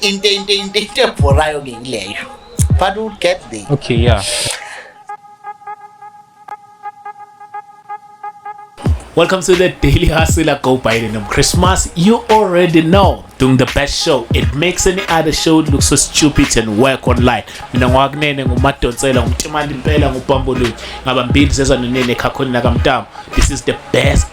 into into into into ebhorayo ke yileyo but we'll get there okay yeah Welcome to the Daily Hustler Go Biden on Christmas. You already know doing the best show. It makes any other show look so stupid and work online. Mina ngwakunene ngumadonsela ngumtimali impela ngubambulweni ngabambili zezanonene ekhakhweni nakamtamo. This is the best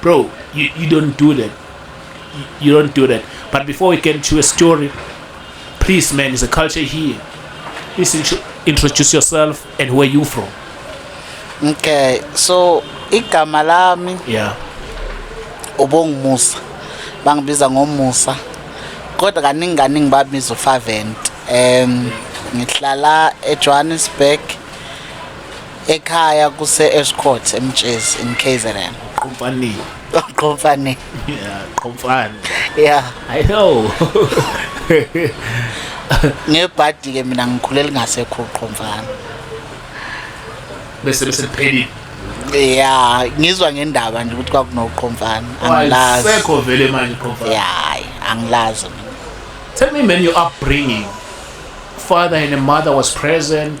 Bro, you, you don't do that. You, you don't do that. But before we get into a story, please man, it's a culture here. Please introduce yourself and where you from. Okay, so igama lami yeah. ubongumusa bangibiza ngomusa kodwa kaningi kaningi babiza ufavent um ngihlala ejohannesburg ekhaya kuse-escort emtshezi in kzn qomfanile qomfanile yeah qomfane yeah i know ngebhadi ke mina ngikhulele ngasekho qomfana bese bese kuphelile ya ngizwa ngendaba nje ukuthi kwakunoqhomfana angilazi sekho vele manje qhomfana ya angilazi tell me man your upbringing father and mother was present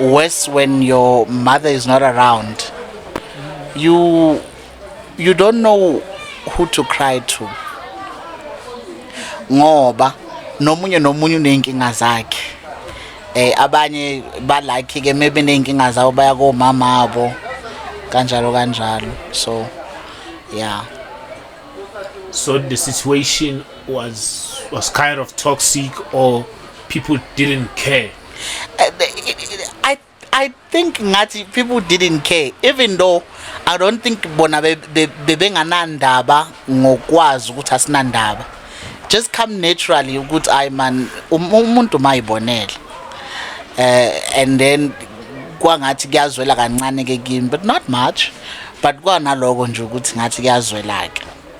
worse when your mother is not around you you don't know who to cry to ngoba nomunye nomunye uneyinkinga zakhe eh abanye balakhe ke maybe neyinkinga zawo baya komama abo kanjalo kanjalo so yeah so the situation was was kind of toxic or people didn't care I I think ngathi people didn't care even though I don't think bona bebenganandaba ngokwazi ukuthi asinandaba just come naturally ukuthi ay man um, umuntu mayibonele eh and then kwangathi kuyazwela kancane ke kimi but not much but kwanaloko nje ukuthi ngathi kuyazwela ke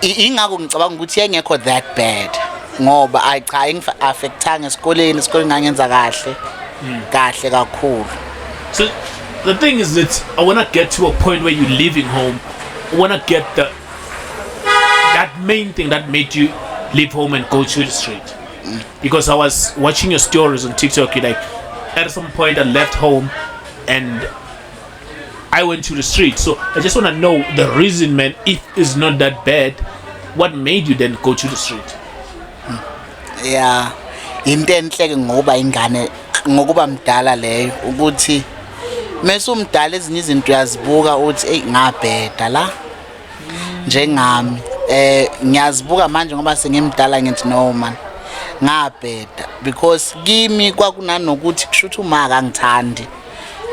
ingakho ngicabanga ukuthi engekho that bad ngoba ayi cha ingi-affectanga esikoleni esikoleni ngangenza kahle hmm. kahle kakhulu so the thing is that i want to get to a point where you're leaving home i want to get the that main thing that made you leave home and go to the street mm. because i was watching your stories on tiktok you like at some point i left home and I went to the street. So I just want to know the reason, man, if it's not that bad, what made you then go to the street? Yeah. Into enhle ke ngokuba ingane ngokuba mdala leyo ukuthi mase umdala ezinye izinto uyazibuka uthi ey ngabheda la njengami eh ngiyazibuka manje ngoba sengimdala ngithi no man ngabheda because kimi kwakunanokuthi kushuthi uma akangithandi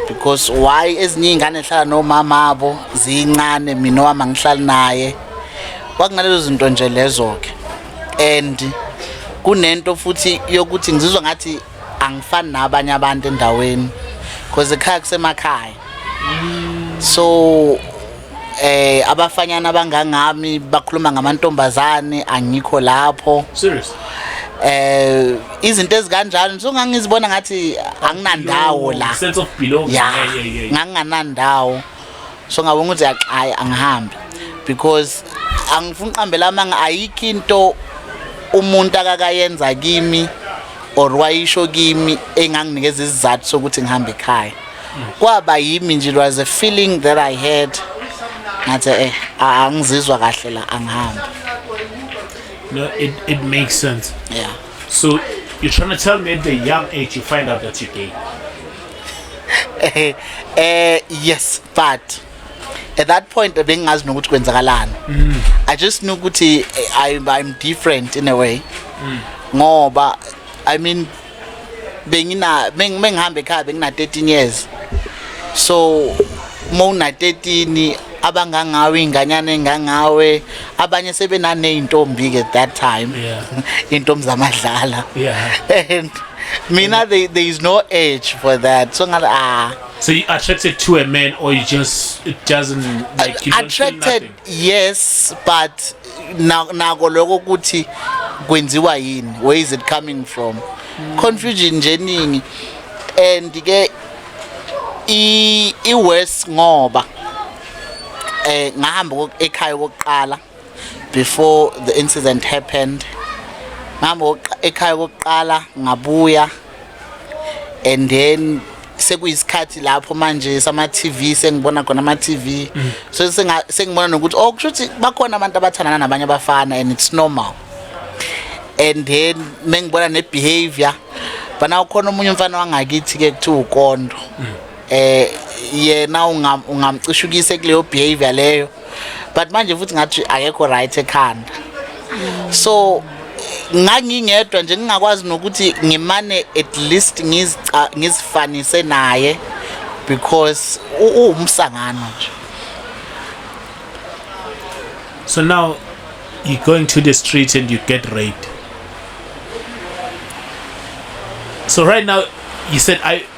because why ezinye iy'ngane zihlala nomama abo ziyincane mina owami angihlali naye kwakunalezo zinto nje lezo-ke and kunento futhi yokuthi ngizizwa ngathi angifani nabanye abantu endaweni because ekhaya kusemakhaya so eh abafanyana abangangami bakhuluma ngamantombazane angikho lapho serious eh izinto ezikanjalo so ngangizibona ngathi anginandawo la sense of belonging yeah yeah yeah nganginandawo so ngabona ukuthi yaqhayi angihambi because angifuni uqambela amanga ayikho into umuntu akakayenza kimi or wayisho kimi enganginikeza izizathu sokuthi ngihambe ekhaya kwaba yimi nje it was a feeling that i had ngathi eh angizizwa kahle la angihambi no it it makes sense yeah so you're trying to tell me at the young age you find out that you're gay eh eh yes but at that point bengingazi nokuthi kwenzakalani mm. i just knew ukuthi eh, i i'm different in a way mm. ngoba i mean bengina bengihamba ekhaya bengina 13 years so uma una 13 abangangawe inganyana engangawe abanye sebenaneyintombi ke that time yeah. intombi zamadlala yeah. and mina they, there is no age for that so ngathi ah so you attracted to a man or you just it doesn't like you attracted yes but nako lokho ukuthi kwenziwa yini where is it coming from confusion nje eningi and ke i i worse ngoba eh ngahamba ekhaya kokuqala before the incident happened ngihamba ekhaya kokuqala ngabuya and then sekuyisikhathi lapho manje sama TV sengibona khona ama TV mm. so senga sengibona nokuthi oh kusho ukuthi bakhona abantu abathandana nabanye abafana and it's normal and then mengibona ne behavior bana ukhona umunye umfana wangakithi ke kuthiwa ukondo mm. eh yena ungamcishukise kuleyo behavior leyo but manje futhi ngathi akekho right ekhanda so ngangingedwa nje ngingakwazi nokuthi ngimane at least ngizifanise naye because uwumsangano nje so now you go into the street and you get raped so right now you said i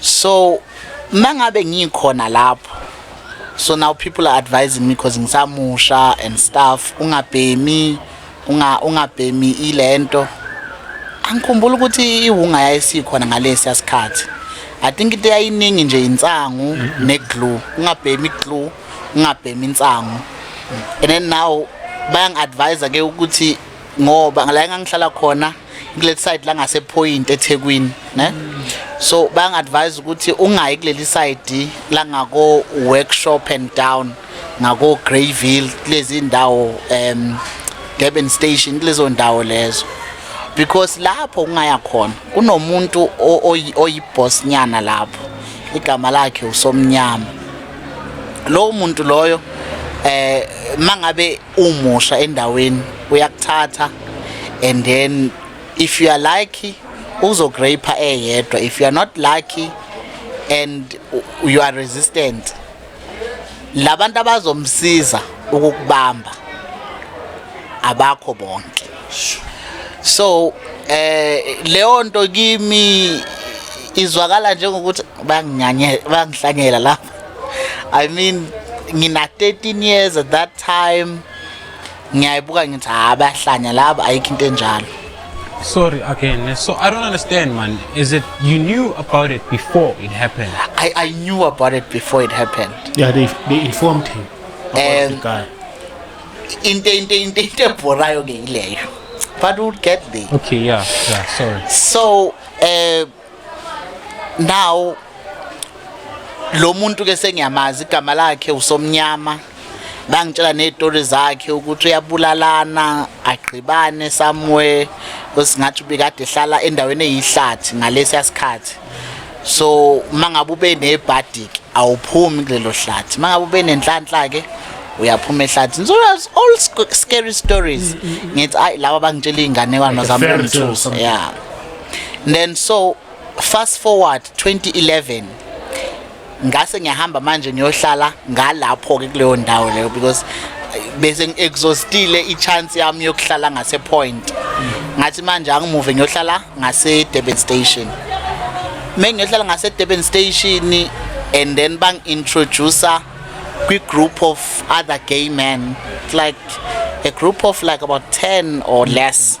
so mangabe ngikhona lapho so now people are advising me because ngisamusha and stuff ungabhemi unga ungabhemi ilento angikhumbula ukuthi iwunga yayisikhona ngalesi asikhathi i think into yayiningi nje insangu ne glue ungabhemi glue ungabhemi insangu and then now bayang advise ke ukuthi ngoba la engangihlala khona kuleli side la ngase point eThekwini ne so bang advise ukuthi ungayi kuleli side la ngako workshop and down ngako Greyville lezi ndawo em Durban station lezo ndawo lezo because lapho ungaya khona kunomuntu oyiboss nyana lapho igama lakhe usomnyama lowo muntu loyo eh mangabe umusha endaweni uyakuthatha and then if you are lucky uzograper eyedwa if you are not lucky and you are resistant labantu abazomsiza ukukubamba abakho bonke so eh leyo nto kimi izwakala njengokuthi banginyanye bangihlanyela lapha I mean ngina 13 years at that time ngiyayibuka ngithi ha bayahlanya laba ayikho into enjalo sorry again so i don't understand man is it you knew about it before it happened i, I knew about it before it happened yeah they, they informed him about and the guy into into into into ebhorayo ke ileyo but we'll get there okay yeah yeah sorry so uh, now lo muntu ke sengiyamazi igama lakhe usomnyama bangitshela nezitori zakhe ukuthi uyabulalana agqibane somewhere osingathi ubikade ehlala endaweni eyihlathi ngalesi yasikhathi so mangabe ube nebhadik awuphumi kulelo hlathi mangabe ube nenhlanhla ke uyaphuma ehlathini so that's all scary stories mm, mm, mm. ngithi ayi laba bangitshela izinganekwane zami lomthuso yeah then so fast forward 2011 ngase ngiyahamba manje ngiyohlala ngalapho ke kuleyo ndawo leyo because eh, bese ngiexhaustile ichance yami yokuhlala ngase point ngathi manje angimuve ngiyohlala ngase Durban station mengiyohlala ngase Durban station and then bang introduce kwi group of other gay men like a group of like about 10 or less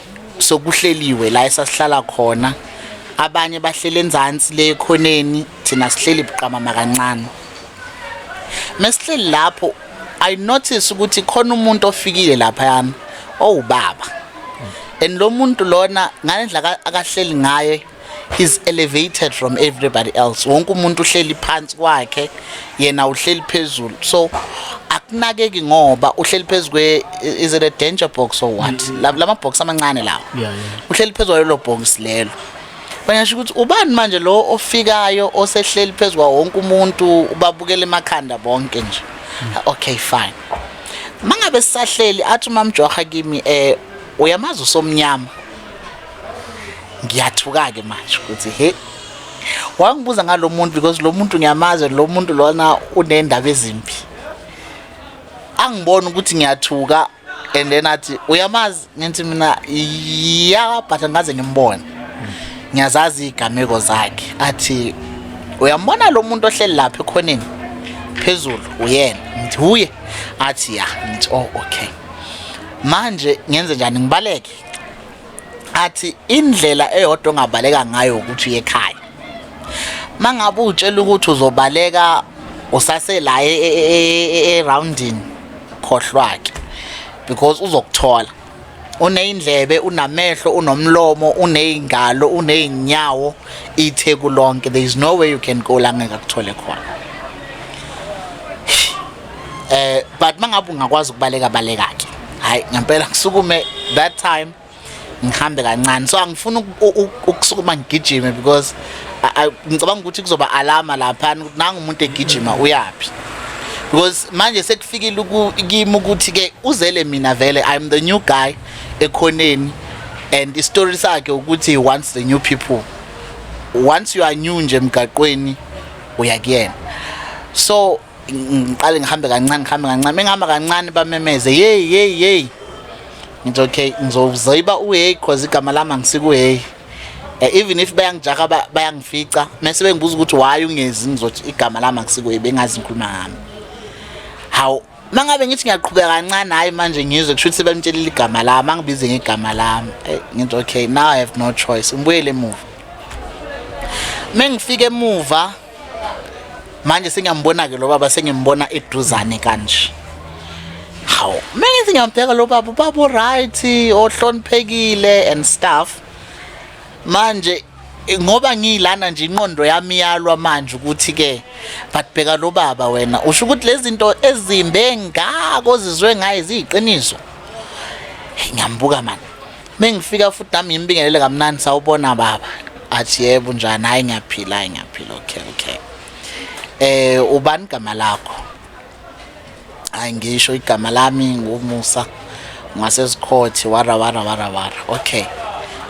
sokuhleliwe la esasihlala khona abanye bahleli enzansi le ekhoneni thina sihleli buqamama kancane mesihleli lapho i notice ukuthi khona umuntu ofikile lapha yami owubaba and lo muntu lona ngalendlela akahleli ngaye he's elevated from everybody else wonke umuntu uhleli phansi kwakhe yena uhleli phezulu so akunakeki ngoba uhleli phezu kwe is it a danger box or what mm. lama box amancane lawo yeah, yeah. uhleli phezu kwalelo box lelo bayasho ukuthi ubani manje lo ofikayo osehleli phezu kwa wonke umuntu ubabukela emakhanda bonke nje mm. okay fine mangabe sisahleli athi umamjoha kimi eh uyamazi usomnyama ngiyathuka-ke manje ukuthi he wangibuza ngalo muntu because lo muntu ngiyamazi lo muntu lona uney'ndaba ezimbi angibona ukuthi ngiyathuka and then athi uyamazi ngithi mina ya but ngaze ngimbone ngiyazazi iy'gameko zakhe athi uyambona lo muntu ohleli lapha ekhoneni phezulu uyena ngithi wuye athi ya ngithi oh okay manje ngenze njani ngibaleke athi indlela eyodwa ongabaleka ngayo ukuthi uye ekhaya mangabe utshela ukuthi uzobaleka usasela e, e, e, eroundini khohlwake because uzokuthola uneyindlebe unamehlo unomlomo uneyingalo unezinyawo itheku lonke there is no way you can go la ngeke akuthole khona eh but mangabe ungakwazi ukubaleka baleka ke hayi ngempela ngisukume that time ngihambe kancane so angifuni ukusukuma ngigijime because ngicabanga ukuthi kuzoba alama lapha nangu umuntu egijima uyaphi because manje sekufikile kimi ukuthi ke uzele mina vele i'm the new guy ekhoneni and istory sakhe ukuthi he wants the new people once you are new nje emgaqweni uyakuyena so ngiqale ngihambe kancane ngihambe kancane mengihamba kancane bamemeze yeyi yeyi yeyi ngithi okay ngizozoyiba uheyi cause igama lami angisikuheyi eh, even if bayangijaha bayangifica mese bengibuza ukuthi why ungezi ngizothi igama lami angisikuheyi bengazi ngikhuluma ngami hawu mangabe ngithi ngiyaqhubeka kancane hayi manje ngizwe kusho ukuthi bamtshelile igama lami angibize ngegama lami eh, ngithi okay now i have no choice ngibuyele emuva mengifika emuva manje sengiyambona ke lo baba sengimbona eduzane kanje hawu mengithi ngiyambheka lo baba ubaba right ohloniphekile and stuff manje ngoba ngilana nje inqondo yami yalwa manje ukuthi ke batibheka lo baba wena usho ukuthi lezinto ezimbe ngako zizwe ngaye ziyiqiniso ngiyambuka manje mengifika futhi nami ngimbingelele kamnandi sawubona baba athi yebo njani hayi ngiyaphila hayi ngiyaphila okay okay eh ubani igama lakho hayi ngisho igama lami ngumusa ngasesikhothe wara wara wara wara okay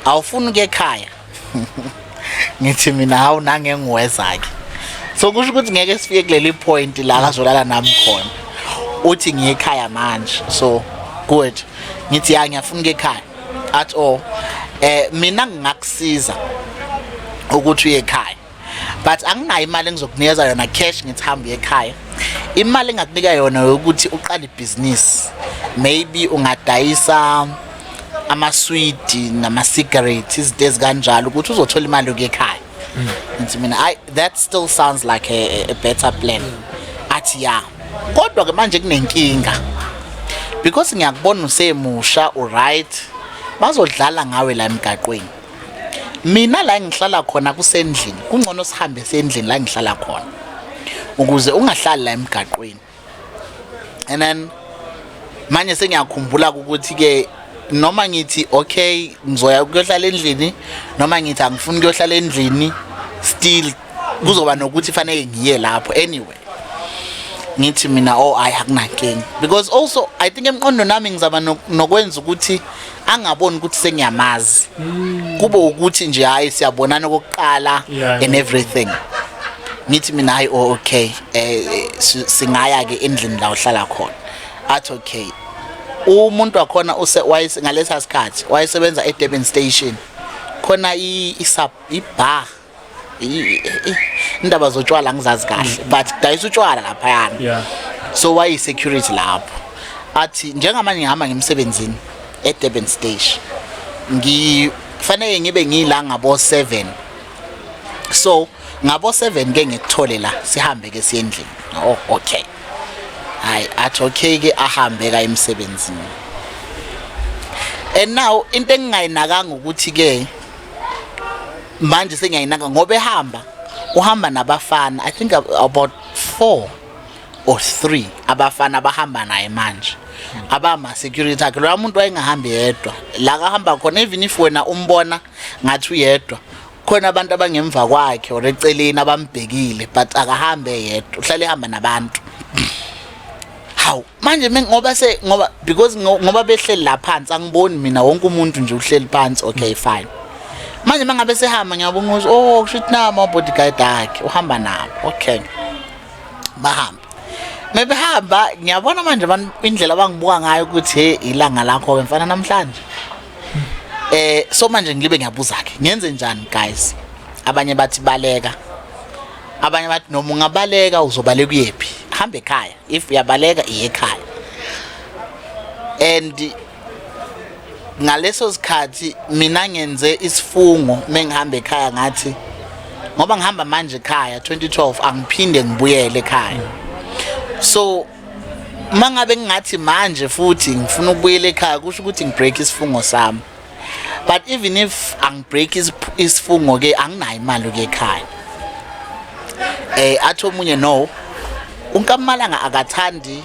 awufuni ukuya ekhaya ngithi mina hawu nangengiwezake so kusho ukuthi ngeke sifike kuleli point la kazolala nami khona uthi ngiye ekhaya manje so good ngithi ya ngiyafuna ekhaya at all eh mina ngingakusiza ukuthi uye ekhaya but anginayo imali engizokunikeza yona cash ngithi hamba uye ekhaya imali engakunika yona yokuthi uqale ibhizinisi maybe ungadayisa amaswidi nama-cigarate izinto ezikanjalo ukuthi uzothola imali yokuya ekhaya mm. ngithi mina i that still sounds like a, a better plan athi ya kodwa-ke manje kunenkinga because ngiyakubona usemusha uright bazodlala ngawe la emgaqweni mina la ngihlala khona kusendlini kungcono sihambe sendlini la ngihlala khona ukuze ungahlali la emgaqweni and then manje sengiyakhumbula ukuthi ke noma ngithi okay ngizoya kuyohlala endlini noma ngithi angifuni kuyohlala endlini still kuzoba nokuthi fanele ngiye lapho anyway ngithi mina oh ayi akunankinga because also i think emqondo nami ngizaba nokwenza ukuthi angaboni ukuthi sengiyamazi hmm. kube ukuthi nje hayi siyabonana okokuqala and everything ngithi mina hayi oh okay eh, eh singaya ke endlini la uhlala khona athi okay umuntu wakhona use ngalesa sikhathi wayesebenza eDurban station khona i i bar indaba zotshwala ngizazi kahle mm. but dayisa utshwala laphayana so wayi-security lapho athi njengamanje ngihamba ngemsebenzini edurban stage ngifanele ngibe ngiyila ngabo-seven so ngabo-seven ke ngikuthole la sihambe ke siyendlini oh okay hayi athi okay ke ahambe ka emsebenzini and now into engingayinakanga ukuthi ke manje sengiyayinaka ngoba ehamba uhamba nabafana i think about four or three abafana abahamba naye manje abama security akhe loya muntu wayengahambi yedwa la kahamba khona even if wena umbona ngathi uyedwa khona abantu abangemva kwakhe or eceleni abambhekile but akahambe yedwa uhlale ehamba nabantu manje ngoba se ngoba because ngoba behleli la phansi angiboni mina wonke umuntu nje uhleli phansi okay fine manje mangabe sehamba ngiyabona ukuthi oh kusho ukuthi nama bodyguard akhe uhamba nabo okay bahamba mebehamba ngiyabona manje abantu indlela abangibuka ngayo ukuthi hey ilanga lakho ke mfana namhlanje eh so manje ngilibe ngiyabuza ke ngenze njani guys abanye bathi baleka abanye bathi noma ungabaleka uzobaleka uyephi hambe ekhaya if uyabaleka iyekhaya and ngaleso sikhathi mina ngenze isifungo mengihamba ekhaya ngathi ngoba ngihamba manje ekhaya 2012 angiphinde ngibuyele ekhaya so mangabe ngingathi manje futhi ngifuna ukubuyela ekhaya kusho ukuthi ngibreak isifungo sami but even if angibreak isifungo ke anginayo imali ke ekhaya eh athi omunye no unkamalanga akathandi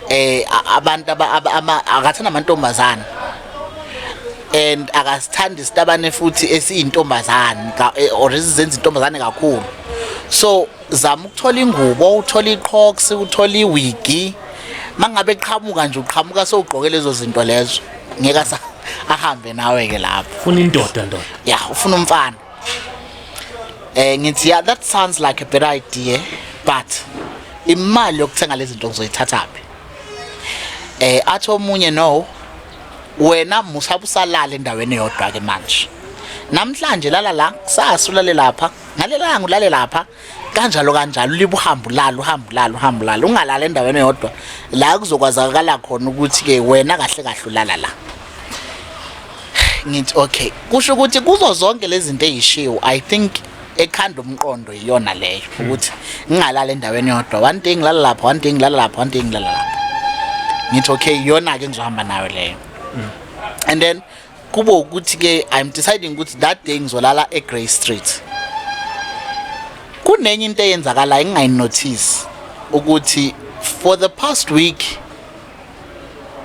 eh abantu ama akathanda amantombazana and akasithandi isitabane futhi esiyintombazane eh, or izenza intombazane kakhulu so zama ukuthola ingubo uthola iqhox uthola iwigi mangabe qhamuka nje uqhamuka sowugqoke lezo zinto lezo ngeke asa ahambe nawe ke lapho ufuna indoda ndoda ya ufuna umfana eh ngithi yeah that sounds like a better idea but imali yokuthenga lezi zinto ngizoyithatha phi eh athi omunye no wena musabusalala endaweni yodwa ke manje namhlanje lala la kusasa ulale lapha ngalelanga ulale lapha kanjalo kanjalo libuhambo lalo uhambo lalo uhambo lalo ungalala endaweni eyodwa la kuzokwazakala khona ukuthi-ke wena kahle kahle ulala la ngithi okay kusho ukuthi kuzo zonke lezi zinto eyishiwo i think ekhanda umqondo iyona leyo ukuthi ngingalala endaweni yodwa one day ngilala lapha one day ngilala lapha one day ngilala lapha ngithi okay iyona-ke engizohamba nayo leyo mm. and then kube ukuthi ke i'm deciding ukuthi that day ngizolala eGrey Street kunenye into eyenzakalayo engingayinotice ukuthi for the past week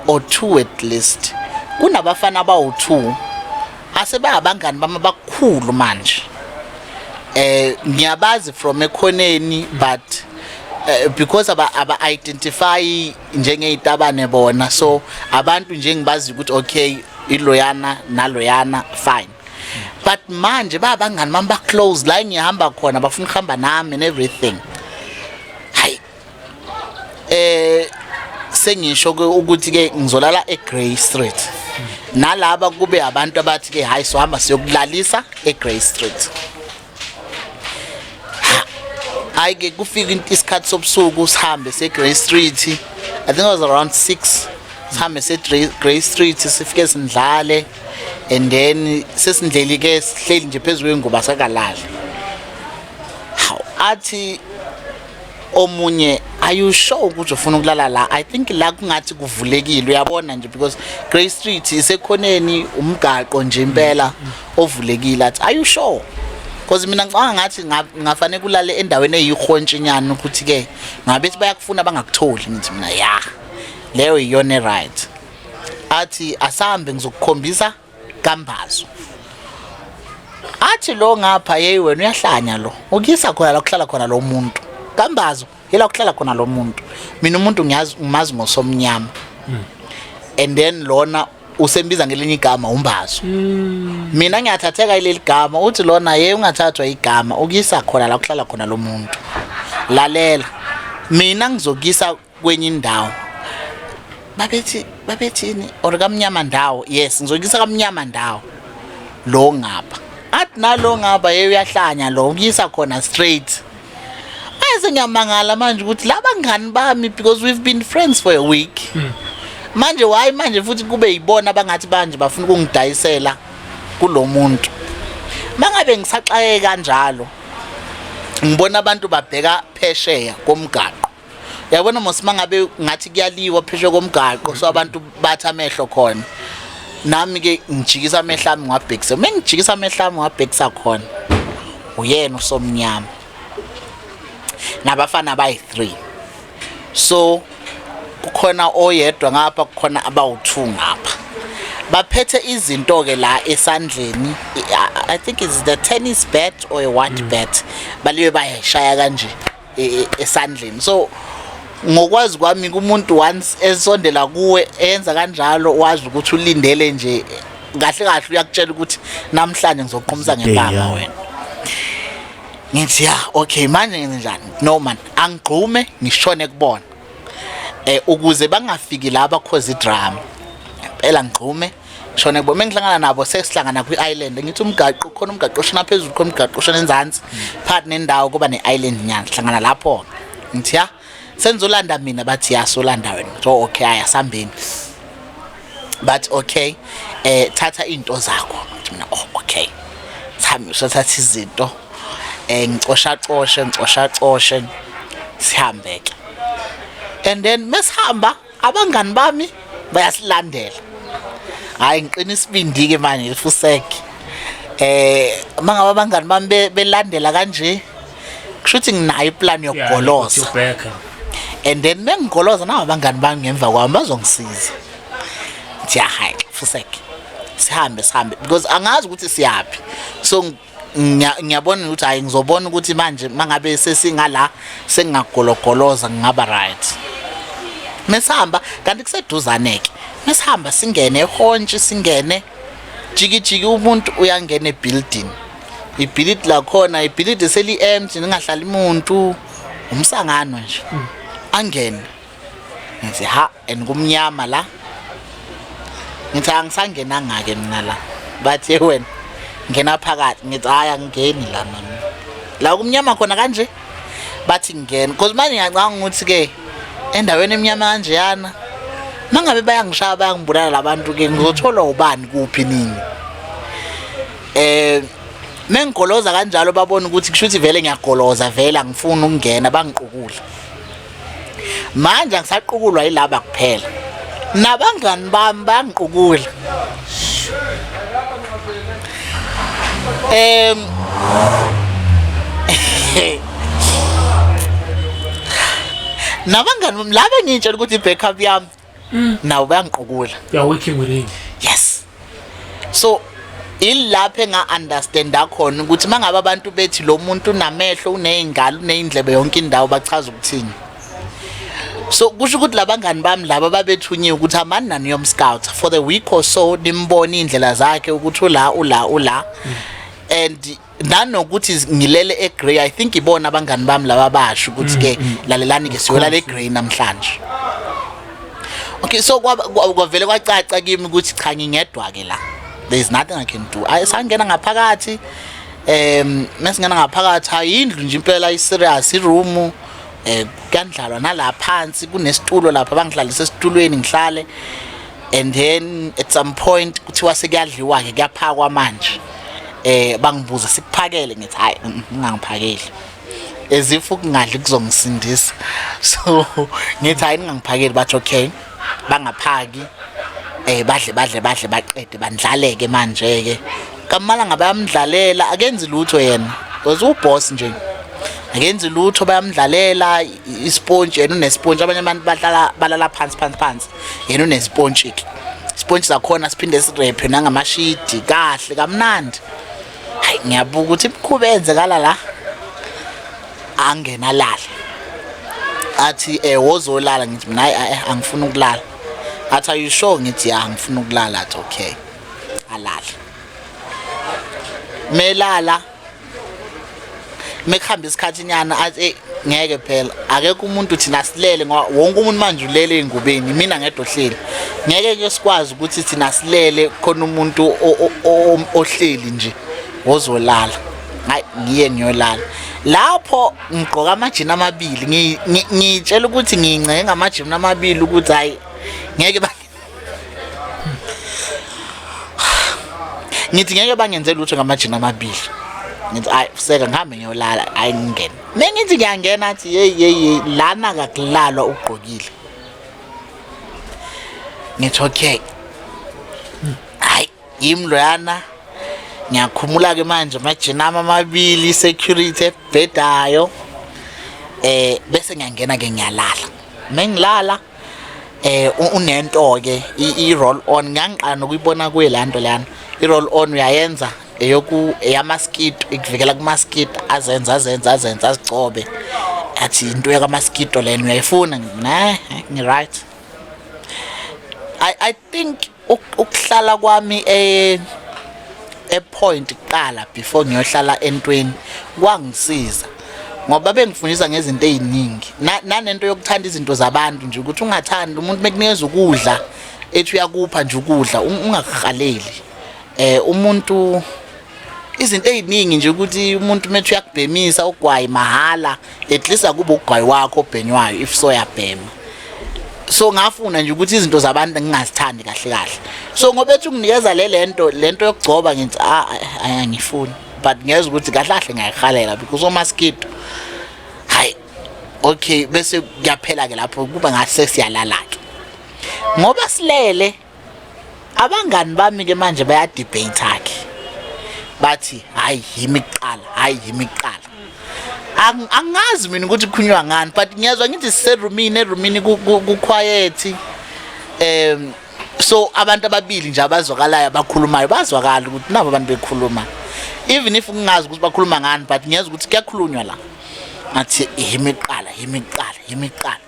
or two at least kunabafana abawu-two asebangabangani bami abakhulu manje eh ngiyabazi from ekhoneni but uh, because aba aba identify njengey'tabane bona so abantu nje ngibazi ukuthi okay iloyana naloyana fine but manje babangani bami baclose la engihamba khona bafuna ukuhamba nami and everything hayi eh sengisho ukuthi ke ngizolala eGrey Street nalaba kube abantu abathi ke hayi sohamba siyokulalisa eGrey Street hayi ke kufika isikhathi sobusuku sihambe seGrey Street I think it was around 6 sihambe seGrey Street sifike sindlale and then sesindleli ke sihleli nje phezulu kwengubo sakalala athi omunye are you sure ukuthi ufuna ukulala la i think la kungathi kuvulekile uyabona nje because grey street isekhoneni umgaqo nje impela ovulekile athi are you sure because mina ngicabanga ngathi ngafanele kulale endaweni eyihontshinyana ukuthi ke ngabe sithi bayakufuna bangakutholi ngithi mina ya leyo iyona right athi asambe ngizokukhombisa kambazo athi lo ngapha yeyi wena uyahlanya lo ukuyisa khona la kuhlala khona lo muntu kambazo yila kuhlala khona lo muntu mina umuntu ngiyazi ngimazi ngosomnyama hmm. and then lona usembiza ngelinye igama umbazo hmm. mina ngiyathatheka ileli gama uthi lona ye ungathathwa igama ukuyisa khona la kuhlala khona lo muntu lalela mina ngizokuyisa kwenye indawo babethi babethini or kamnyama ndawo yes ngizokuyisa kamnyama ndawo lo ngapha athi nalo ngapha yeye uyahlanya lo ukuyisa khona straight ayize ngiyamangala manje ukuthi laba ngani bami because we've been friends for a week hmm. manje why manje futhi kube yibona bangathi banje bafuna ukungidayisela kulomuntu mangabe ngisaxaye kanjalo ngibona abantu babheka phesheya komgaqo yabona mos mangabe ngathi kuyaliwa pheshe komgaqo so abantu bathi amehlo khona nami ke ngijikisa amehlo ami ngwabhekisa uma ngijikisa amehlo ami ngwabhekisa khona uyena usomnyama nabafana bayi-three so kukhona oyedwa ngapha kukhona abawu-two ngapha baphethe izinto-ke la esandleni i think is the tennis bat or a what mm. bat balibe bayashaya kanje e, e, esandleni so ngokwazi kwami kumuntu once esondela kuwe enza kanjalo wazi ukuthi ulindele nje kahle kahle uyakutshela ukuthi namhlanje ngizoqhumisa ngempama wena ngithi ya okay manje ngenze njani no man angigxume ngishone kubona eh ukuze bangafiki laba cause drama impela ngigxume shona kubo mengihlangana nabo sesihlangana kwi-island ngithi umgaqo khona umgaqo oshona phezulu khona umgaqo oshona enzansi phakathi nendawo kuba ne-island nyana sihlangana lapho ngithi ya senizolanda mina bathi ya solanda wena so okay aya sambeni but okay eh thatha into zakho mina oh okay sami usathatha izinto eh ngicosha coshe ngicosha coshe sihambeke and then mesihamba abangani bami bayasilandela hayi ngiqina isibindi ke manje ngifuseke eh mangaba abangani bami be- belandela kanje kusho ukuthi nginayo iplan yokugoloza and then mengigoloza nawo abangani bami ngemva kwami bazongisiza ngithi hayi fuseke sihambe sihambe because angazi ukuthi siyaphi so ngiyabona ukuthi hayi ngizobona ukuthi manje mangabe sesingala sengingagologoloza ngingaba right mesihamba kanti kuseduzane ke mesihamba singene ehontshi singene jikijiki umuntu uyangena ebuilding ibhilidi lakhona ibhilidi seli-empty ningahlali muntu umsangano nje angene ngithi ha and kumnyama la ngithi angisangenanga-ke mina la bathe wena ngena phakathi ngithi hhayi angingeni la mina la kumnyama khona kanje bathi ngingena cause manje ngiyacanga ukuthi-ke endaweni emnyama kanjeyana mangabe bayangishaya bayangibulala labantu-ke ngizotholwa ubani kuphi nini um mengigoloza kanjalo babona ukuthi kusho ukuthi vele ngiyagoloza vele angifuni ukungena bangiqukule manje angisaqukulwa yilaba kuphela nabangani bami bangiqukula em nabangani bami laba engitshela ukuthi i-backup yami mm. nawo bayangiqukula you are working with him yes so ilapho enga-understanda khona ukuthi uma ngabe abantu bethi lo muntu unamehlo uney'ngalo uney'ndlebe yonke indawo bachaza ukuthini so kusho ukuthi labangani bami laba babethunyiwe ukuthi amani nani yomscout for the week or so nimbone iy'ndlela zakhe ukuthi ula ula ula mm. and nanokuthi ngilele egrey i think ibona abangani bami laba basho ukuthi mm, ke mm. lalelani ke siyolala egrey namhlanje okay so kwavele kwacaca kimi ukuthi cha ngingedwa ke la there is nothing i can do ayisangena ngaphakathi em mesingena ngaphakathi ayindlu nje impela i serious i room eh kuyandlalwa nalapha phansi kunesitulo lapha bangihlalisa esitulweni ngihlale and then at some point kuthiwa sekuyadliwa ke kuyaphakwa manje eh bangibuza sikuphakele ngithi hayi mm, ngingangiphakeli as if ukungadli kuzongisindisa so ngithi hayi ningangiphakeli bathi okay bangaphaki eh badle badle badle baqede bandlaleke manje ke kamala ngabe amdlalela akenzi lutho yena because uboss nje akenzi lutho bayamdlalela isponge yena unesponge abanye abantu badlala balala phansi phansi phansi yena unespontshiki ispontshi sakhona siphinde sirephe nangamashidi kahle kamnandi hayi ngiyabuka ukuthi imikhuba eyenzekala la angena lala athi eh wozolala ngithi mina hayi eh, angifuni ukulala athi are you sure ngithi ya ngifuna ukulala athi okay alala melala mekuhamba isikhathi nyana athi hey ngeke phela akekho umuntu thina silele ngoba wonke umuntu manje ulele engubeni mina ngedwa ohleli ngeke ke sikwazi ukuthi thina silele khona umuntu ohleli nje ozolala hayi ngiye ngiyolala lapho ngigqoka amajini amabili ngiyitshela ukuthi ngingcenge amajini amabili ukuthi hayi ngeke ngithi ngeke bangenze lutho ngamajini amabili ngithi ayi useka ngihambe ngiyolala ayi ngingene mengithi ngiyangena athi yeyi yeyi lana kakulalwa ugqokile ngithi okay hayi yimi loyana ngiyakhumula-ke manje amajini ami amabili i-security ebhedayo um bese ngiyangena-ke ngiyalala mengilala eh unento ke i roll on ngangiqala nokuyibona kuye lanto lana i roll on uyayenza eyoku eyamaskito ikuvikela kumaskito azenza azenza azenza azigcobe athi into yakamaskito lena uyayifuna na ngiright i i think ukuhlala kwami eh epoint kuqala before ngiyohlala entweni kwangisiza ngoba bengifundisa ngezinto eziningi nanento yokuthanda izinto zabantu nje ukuthi ungathandi umuntu mekunikeza ukudla ethi uyakupha nje ukudla ungakuhaleli eh umuntu izinto eziningi nje ukuthi umuntu methi uyakubhemisa ugwayi mahhala at least akube ugwayi wakho obhenywayo if so yabhema so ngafuna nje ukuthi izinto zabantu ngingazithandi kahle kahle so ngoba ethi unginikeza le lento lento yokugcoba ngithi ah, ah, ah angifuni but ngiyeza ukuthi kahle kahle ngiyayihalela because omaskito hayi okay bese kuyaphela ke lapho kuba ngase siyalala ke ngoba silele abangani bami ke manje baya debate akhe bathi hayi yimi kuqala hayi yimi kuqala angazi mina ukuthi kukhulunywa ngani but ngiyazwa ngithi siserumini erumini kuquiet um so abantu ababili nje abazwakalayo abakhulumayo bazwakala ukuthi nabo abantu bekhuluma even if ngingazi ukuthi bakhuluma ngani but ngiyazwa ukuthi kuyakhulunywa la ngathi yimiqala yimiqala yimiqala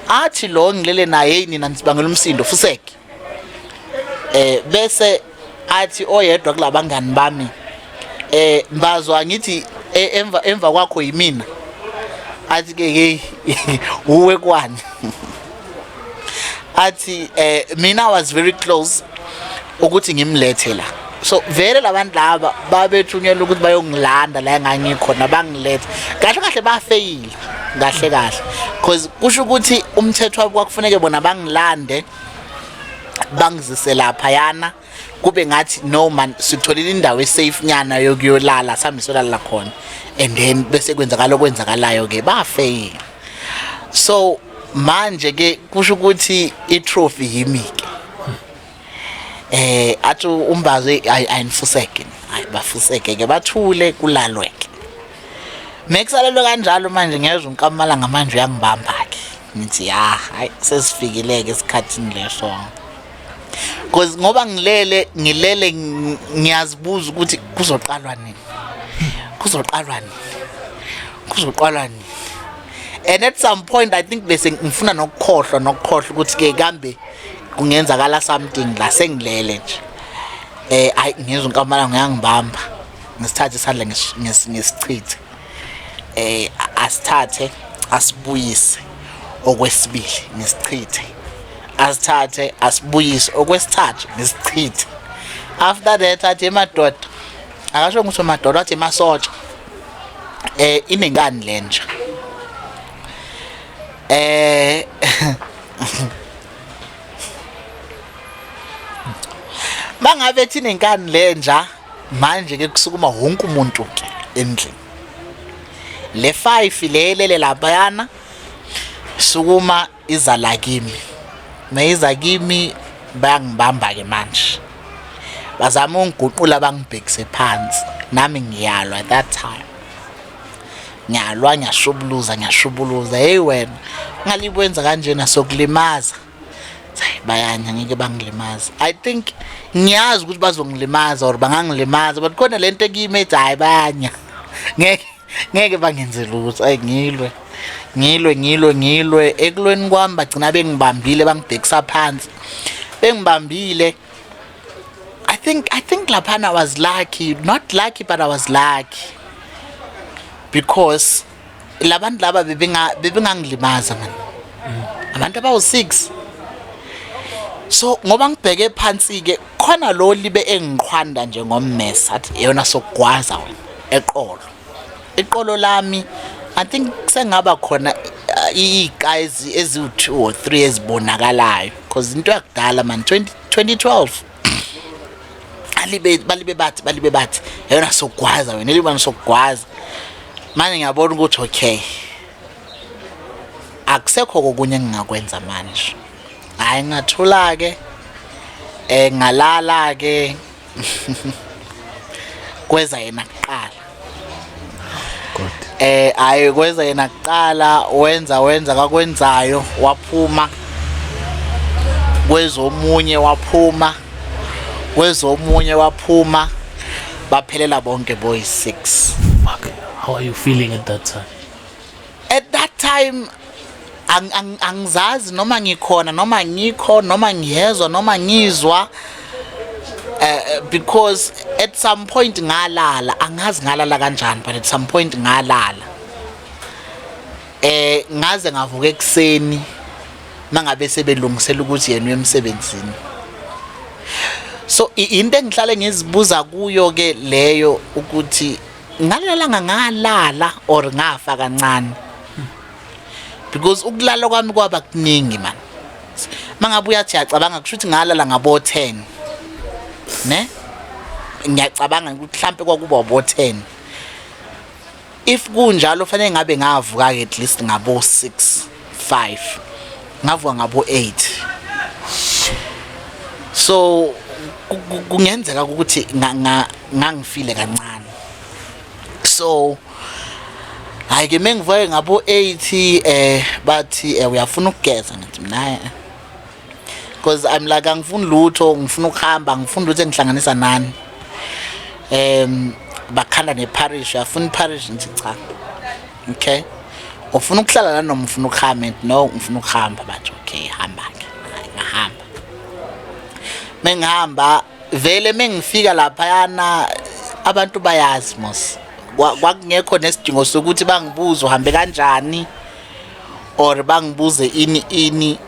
athi lo ngilele naye hey nina nisibangela umsindo fuseke eh bese athi oyedwa kulabangani bami eh mbazwa ngithi e, emva emva kwakho yimina athi ke hey uwe kwani athi eh mina was very close ukuthi ngimlethe la so vele labantu laba babethunyelwa ukuthi bayongilanda la engangikhona bangilethe kahle kahle bafeyile kahle kahle because kusho ukuthi umthetho wabo kwakufuneke bona bangilande bangizise lapha yana kube ngathi no man sitholile indawo esafe nyana yokuyolala sambe solala khona and then bese kwenzakala okwenzakalayo ke bafeyile so manje ke kusho ukuthi i trophy yimi ke eh athi umbazo ayinifuseke hayi bafuseke ke bathule kulalwe ke mekusalelwe kanjalo manje ngezwe unkamala ngamanje uyangibamba ke ngithi ya hayi sesifikileke esikhathini leso cause ngoba ngilele ngilele ngiyazibuza ukuthi kuzoqalwa nini kuzoqalwa nini kuzoqalwa nini and at some point i think bese ngifuna nokukhohlwa nokukhohlwa ukuthi ke kambe kungenzakala something la sengilele nje eh ayi ngizwe inkamala ngiyangibamba ngisithathe isandla ngisichithe eh asithathe asibuyise okwesibili ngisichithe asithathe asibuyise okwesithathu ngisichithe after that athi emadoda akasho ukuthi madoda athi masotsha eh inengani lenja Eh Mangabe thina inkani lenja manje ke kusukuma wonke umuntu ke endlini. Le 5 lelele labayana sukuma iza la kimi. Mayiza kimi bayangibamba ke manje. Bazama ungiguqula bangibhekise phansi. Nami ngiyalwa that time. ngiyalwa ngiyashubuluza ngiyashubuluza hey wena ngalibwenza kanjena sokulimaza bayanya ngeke bangilimaza i think ngiyazi ukuthi bazongilimaza or bangangilimaza but khona lento ekimi ethi hayi bayanya ngeke ngeke bangenze lutho ayi ngilwe ngilwe ngilwe ngilwe ekulweni kwami bagcina bengibambile bangibhekisa phansi bengibambile I think I think laphana I was lucky not lucky but I was lucky because labantu laba bebenga bebengangilimaza man abantu abawu 6 so ngoba ngibheke phansi ke khona lo libe engiqhwanda nje ngommesa athi yona sokugwaza wena eqolo iqolo lami i think sengaba khona uh, iqazi eziwu2 or 3 ezibonakalayo because into yakudala man 20 2012 alibe balibe bathi balibe bathi yona sokugwaza wena elibani sokugwaza manje ngiyabona ukuthi okay akusekho kokunye engingakwenza manje hayi ngathula ke eh ngalala ke kweza yena kuqala God eh hayi kweza yena kuqala wenza wenza kakwenzayo waphuma kwezomunye waphuma kwezomunye waphuma baphelela bonke boys 6 fuck how are you feeling at that time at that time angizazi noma ngikhona noma ngikho noma ngiyezwa noma ngizwa uh, because at some point ngalala angazi ngalala kanjani but at some point ngalala eh ngaze ngavuka ekseni mangabe sebelungisela ukuthi yena uyemsebenzini so into engihlale ngizibuza kuyo ke leyo ukuthi ngalalanga ngalala or ngafa kancane because ukulala kwami kwaba kuningi man mangabe uyathi yacabanga kusho ukuthi ngalala ngabo 10 ne ngiyacabanga ukuthi mhlambe kwakuba bo 10 if kunjalo fanele ngabe ngavuka ke at least ngabo 6 5 ngavuka ngabo 8 so kungenzeka ukuthi ngangifile kancane so hayi ke mengivuke ngabo 8 eh bathi eh, uyafuna ukugeza ngithi mina eh. because i'm like angifuni lutho ngifuna ukuhamba ngifuni lutho engihlanganisa nani um bakhanda neparish afuna iparish ngithi cha okay ufuna ukuhlala la noma ufuna ukuhamba and no ngifuna ukuhamba bathi okay hamba ke ngahamba mengihamba vele mengifika lapha yana abantu bayazi mos kwakungekho nesidingo sokuthi bangibuze uhambe kanjani or bangibuze ini ini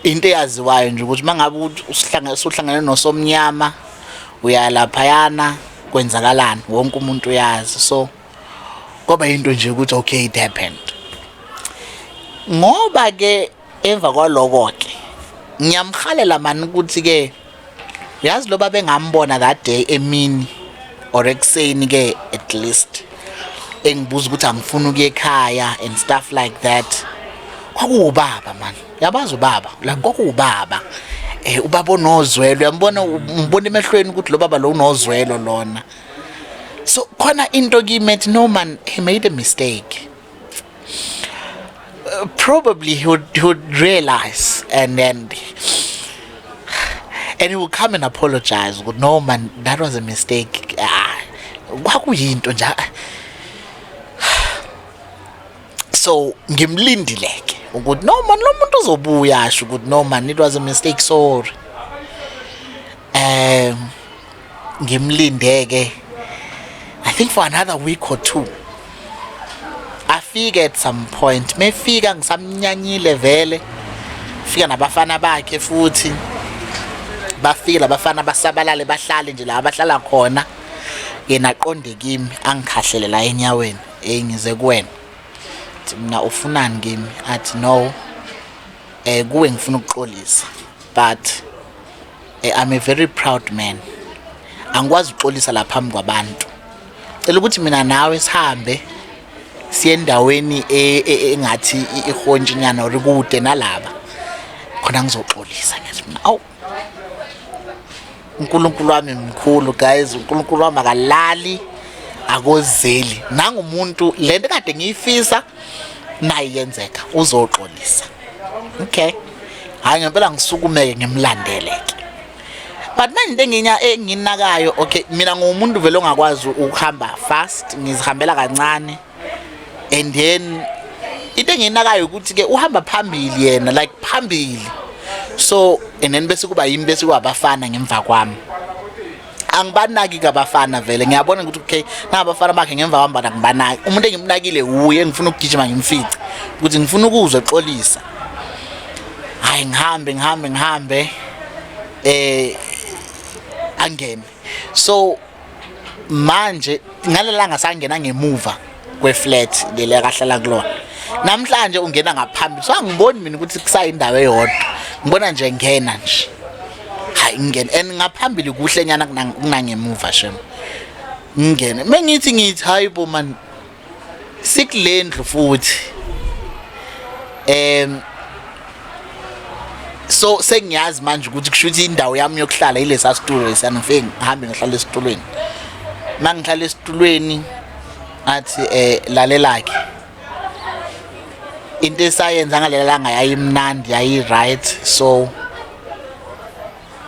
into eyaziwayo nje ukuthi mangabe usihlangene usuhlangene nosomnyama uyalaphayana kwenzakalani wonke umuntu uyazi so kwaba into nje ukuthi okay it happened ngoba ke emva kwaloko ke ngiyamhalela mani ukuthi ke yazi loba bengambona that day emini or ekuseni ke at least engibuza ukuthi angifuni ukuye ekhaya and stuff like that kwakuwubaba mani yabazi ubaba la kwakuwubaba um ubaba onozwelo uyambona umbona emehlweni ukuthi lo baba lo unozwelo lona so khona into kimi ethi no man he made a mistake uh, probably he would, he would realize and then and he will come and apologize ukuthi no man that was a mistake ah, kwakuyinto nje so ngimlindileke ukuthi no man lo muntu uzobuya asho ukuthi no man it was a mistake sorry um ngimlinde ke i think for another week or two afike at some point mefika ngisamnyanyile vele fika nabafana bakhe futhi bafike labafana basabalale bahlale nje la bahlala khona yena aqonde kimi angikhahlele la enyaweni hey ngize kuwena mina ufunani kimi athi no eh kuwe ngifuna ukuxolisa but Eh, I'm a very proud man. Angikwazi uxolisa la phambi kwabantu. Cela ukuthi mina nawe sihambe siye endaweni e- e- engathi i- ihontshi nyana or kude nalaba. Khona ngizoxolisa ngithi mina awu uNkulunkulu wami mkhulu guys uNkulunkulu wami akalali akozeli nangumuntu lento kade ngiyifisa nayi yenzeka uzoxolisa okay hayi ngempela ngisukumeke ngimlandeleke but manje into enginya enginakayo okay mina ngumuntu vele ongakwazi ukuhamba fast ngizihambela kancane and then into enginakayo ukuthi ke uhamba phambili yena like phambili so and then bese kuba yimi bese kwabafana ngemva kwami angibanaki kabafana vele ngiyabona ukuthi okay nabafana bakhe ngemva kwambana ngibanaki umuntu engimnakile wuye ngifuna ukugijima ngimfice ukuthi ngifuna ukuzwe xolisa hayi ngihambe ngihambe ngihambe eh angene so manje ngalelanga sangena ngemuva kweflat leli akahlala kulona namhlanje ungena ngaphambili so angiboni mina ukuthi kusayindawo eyodwa ngibona nje ngena nje hayi ngingena and ngaphambili kuhle nyana kunangemuva shem ngingene mengithi ngithi hayi bo man sikulendlu futhi em so sengiyazi manje ukuthi kushuthi indawo yami yokuhlala ilesa situlo esanifike ngihambe ngihlala esitulweni mangihlala esitulweni athi eh lalelakhe into esayenza ngalelanga yayimnandi yayi-right so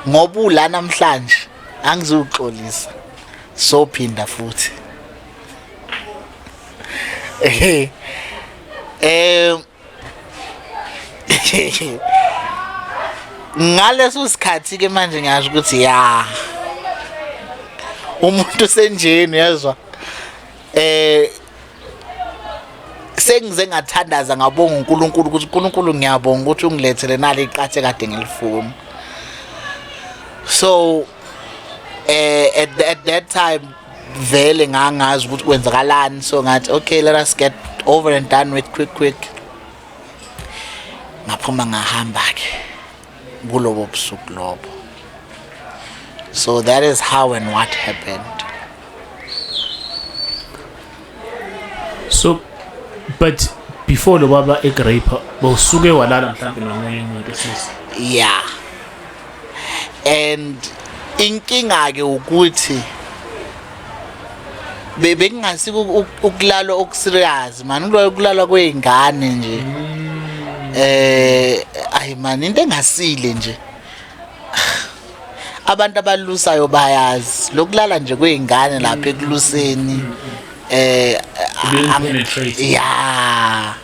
ngoba ula namhlanje angizuxolisa sophinda futhi eh ngaleso sikhathi ke manje ngiyasho ukuthi ya umuntu senjeni uyezwa eh sengize ngathandaza ngabonga uNkulunkulu ukuthi uNkulunkulu ngiyabonga ukuthi ungilethele nali iqathe kade ngilifuna so eh at, at that time vele ngangazi ukuthi kwenzakalani so ngathi okay let us get over and done with quick quick ngaphuma ngahamba ke kulobo busuku lobo so that is how and what happened so but before lo baba egrape bowusuke walala mhlawumbe nomunye umuntu sisi yeah and inkinga ke ukuthi bebekungasika ukulalwa okuserious mani kulalwa kwey'ngane nje mm. eh ayi mani into engasile nje abantu abalusayo bayazi lokulala nje kwey'ngane lapha ekuluseni um eh, ya